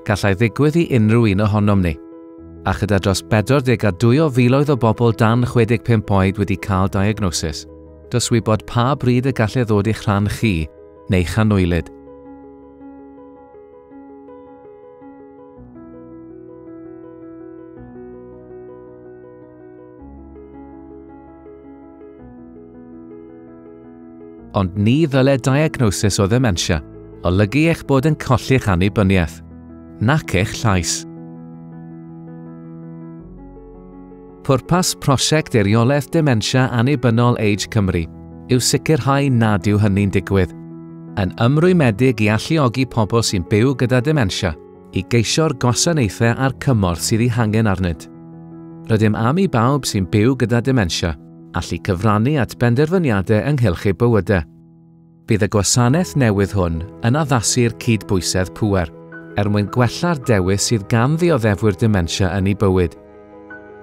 Gallai ddigwydd i unrhyw un ohonom ni. A chyda dros 42 o filoedd o bobl dan 65 oed wedi cael diagnosis, does wybod pa bryd y gallai ddod i'ch rhan chi neu chanoelid. Ond ni ddyle diagnosis o ddementia olygu eich bod yn colli'ch annibyniaeth, nac eich llais. Pwrpas prosiect Eiriolaeth Dementia Annibynnol Age Cymru yw sicrhau nad yw hynny'n digwydd, yn ymrwymedig i alluogi pobl sy'n byw gyda dementia i geisio'r gwasanaethau a'r cymorth sydd ei hangen arnynt. Rydym am i bawb sy'n byw gyda dementia allu cyfrannu at benderfyniadau ynghylch eu bywydau. Bydd y gwasanaeth newydd hwn yn addasu'r cydbwysedd pŵer er mwyn gwella'r dewis sydd gan ddioddefwyr dementia yn eu bywyd.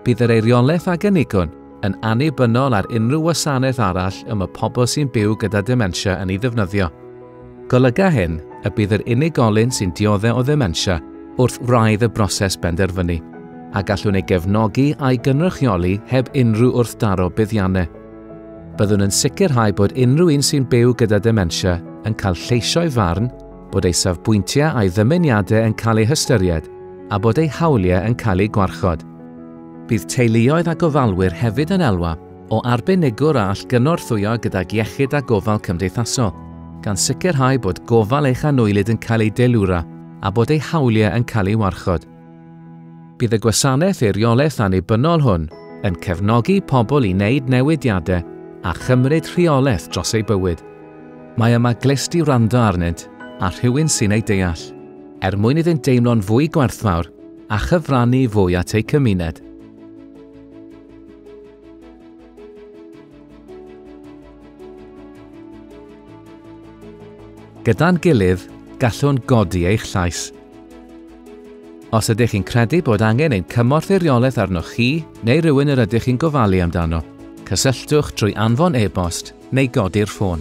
Bydd yr eiriolaeth a gynigwn yn annibynnol ar unrhyw wasanaeth arall y mae pobl sy'n byw gyda dementia yn ei ddefnyddio. Golyga hyn y bydd yr unigolyn sy'n dioddef o ddementia wrth wraidd y broses benderfynu, a gallwn ei gefnogi a'i gynrychioli heb unrhyw wrthdaro buddiannau. Byddwn yn sicrhau bod unrhyw un sy'n byw gyda dementia yn cael lleisio'i farn bod ei safbwyntiau a'i ddymuniadau yn cael eu hystyried a bod ei hawliau yn cael eu gwarchod. Bydd teuluoedd a gofalwyr hefyd yn elwa o arbenigwr a all gynorthwyo gydag iechyd a gofal cymdeithasol, gan sicrhau bod gofal eich anwylyd yn cael ei deilwra a bod ei hawliau yn cael ei warchod. Bydd y gwasanaeth eiriolaeth annibynnol hwn yn cefnogi pobl i wneud newidiadau a chymryd rheolaeth dros eu bywyd. Mae yma glust i wrando arnynt a rhywun sy'n eu deall, er mwyn iddynt deimlo'n fwy gwerthfawr a chyfrannu fwy at eu cymuned. Gyda'n gilydd, gallwn godi eich llais. Os ydych chi'n credu bod angen ein cymorth eiriolaeth arnoch chi neu rywun yr ydych chi'n gofalu amdano, cysylltwch trwy anfon e-bost neu godi'r ffôn.